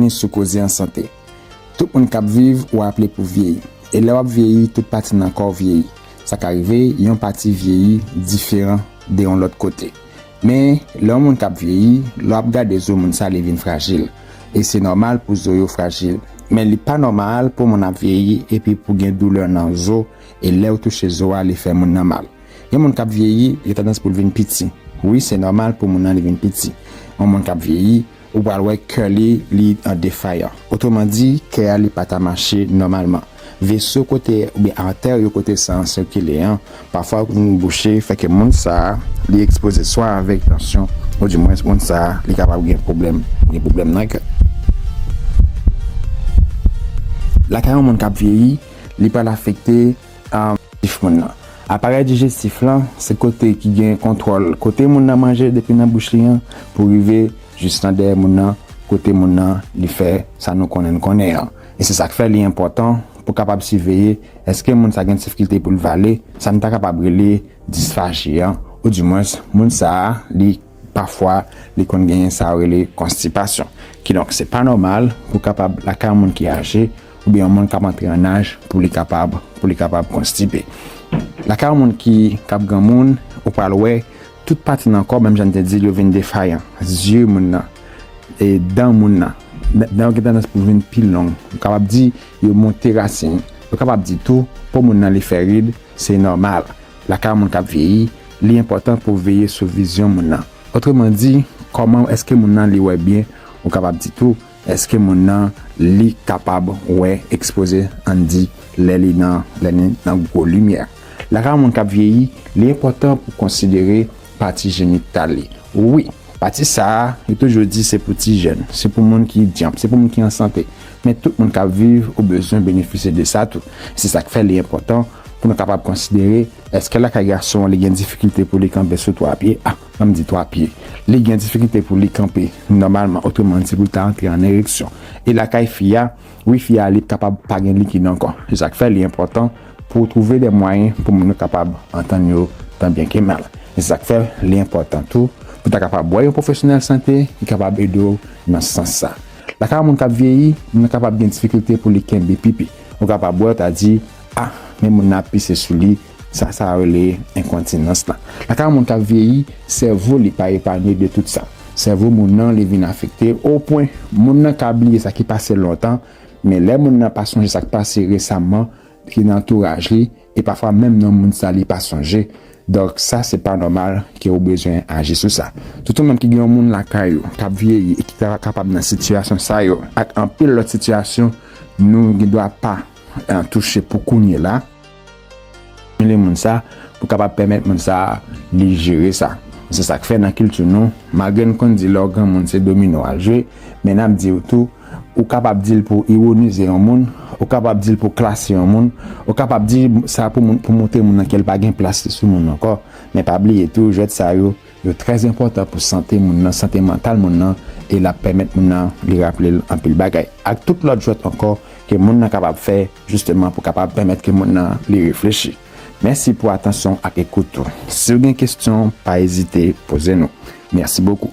Byenvini sou Koze an Sante. Tout moun k ap viv ou aple pou vyeyi. E lè w ap vyeyi, tout pati nan kò w vyeyi. Sa ka rive yon pati vyeyi diferan de yon lòt kote. Men, lè yon moun k ap vyeyi, lè w ap gade zo moun sa li vin frajil. E se nòmal pou zo yo frajil. Men li pa nòmal pou moun ap vyeyi epi pou gen doulè nan zo e lè ou touche zo a li fè moun nan mal. Yon moun k ap vyeyi, gen tandans pou l vin piti. Wi, se nòmal pou moun nan li vin piti. Yon moun k ap vyeyi, Ou pral wè kè li li an defayan. Otreman di, kè a li pa ta mache nòmalman. Veso kote oubyen artère yo kote san an sikile an pafwa vin bouche fè ke moun sa a li ekspoze swa avèk tansyon ou di mwens moun sa a li kapab gen pwoblèm gen pwoblèm nan kè. Lakay yon moun k ap vyeyi, li pral afekte. Dijestif moun nan. Aparèy dijestif lan se kote ki gen kontwòl kote moun nan manje depi nan bouch li an pou rive jis nan dèyè moun nan kote moun nan li fè sa nou konnen n konnen an. E se sa k fè li enpòtan pou kapab siveye èske moun sa gen difkilte pou l vale sa n ta kapab rele disfaji an oudimwens moun sa a li pafwa li konn genyen sa yo rele konstipasyon. Kidonk se pa nòmal pou kapab lakay yon moun ki aje oubyen yon moun kap antre an naj pou li kapab pou li kapab konstipe. Lakay yon moun ki kap granmoun, ou pral wè tout pati nan kò menm jan n te di l yo vin defayan, zye moun nan, e dan moun nan, dan yo gen tandans pou vin pi long, ou kapab di yo monte rasin, ou kapab di tou po moun nan li fè rid, se nòmal, lakay yon moun kap vyeyi, li enpòtan pou veye sou vizyon moun nan, otreman di kòman èske moun nan li wè byen, ou kapab di tou Eske moun nan li kapab wè ekspoze ann di lè li nan lè li nan gwo limyè? Lakay yon moun k ap vyeyi, li enpòtan pou konsidere pati jenital li. Wi, pati sa a yo toujou di se pou ti jèn, se pou moun ki dyanp, se pou moun ki an sante. Men tout moun k ap viv ou bezwen benefisye de sa tou. Se sa k fè li enpòtan pou nou kapab konsidere eske lakay gason an li gen difikilte pou li kanpe sou twa pye a. Fanm di 3 pye li gen difikilte pou li kanpe nòmalman otreman se pou li ta antre an ereksyon e lakay fi a wi fi a li kapab pa gen likid ankò se sak fè li enpòtan pou w twouve de mwayen pou moun yo kapab antann yo tan byen ke mal e se sak fè li enpòtan tou pou ta kapab wè yon pwofesyonèl sante ki kapab ede w nan sans sa lakay yon moun kap vyeyi moun nan kapab gen difikilte pou li kenbe pipi ou kapab wè yo ta di ah men moun nan ap pise sou li Sa sa rele enkontinans la. Lakay yon moun kap vyeyi, sèvo li pa epanye de tout sa. Sèvo moun nan li vin afekte o pwen moun nan ka bliye sa ki pase lontan, men lè moun nan pa sonje sak pase resaman ki nan antouraj li e pafwa menm non moun sa li pa sonje. Donk sa se pa nòmal ke ou bezwen aji sou sa. Tout yon moun ki gen yon moun lakay ou kap vyeyi e ki ta kapab nan sitiyasyon sa yo ak anpil lòt sitiyasyon nou gen dwa pa touche pou kounyela. Stimile moun sa pou kapab pèmèt moun sa li jere sa. Se sa k fè nan kilti nou, malgre n konn di lè w granmoun se domino w al jwe, men n ap di w tou, ou kapab di l pou w iwonize yon moun, ou kapab di l pou w klase yon moun, ou kapab di sa pou moun pou montre moun nan ke l pa gen plas li sou moun ankò. Men pa bliye tou jwèt sa yo Yo trè enpòtan pou sante moun nan, sante mantal moun nan e l ap pèmèt moun nan li raple l anpil bagay ak tout lòt jwèt ankò ke moun nan kapab fè jisteman pou kapab pèmèt ke moun nan li reflechi. Mèsi pou atansyon w ak ekout ou. Si w gen kesyon, pa ezite poze nou. Mèsi bokou.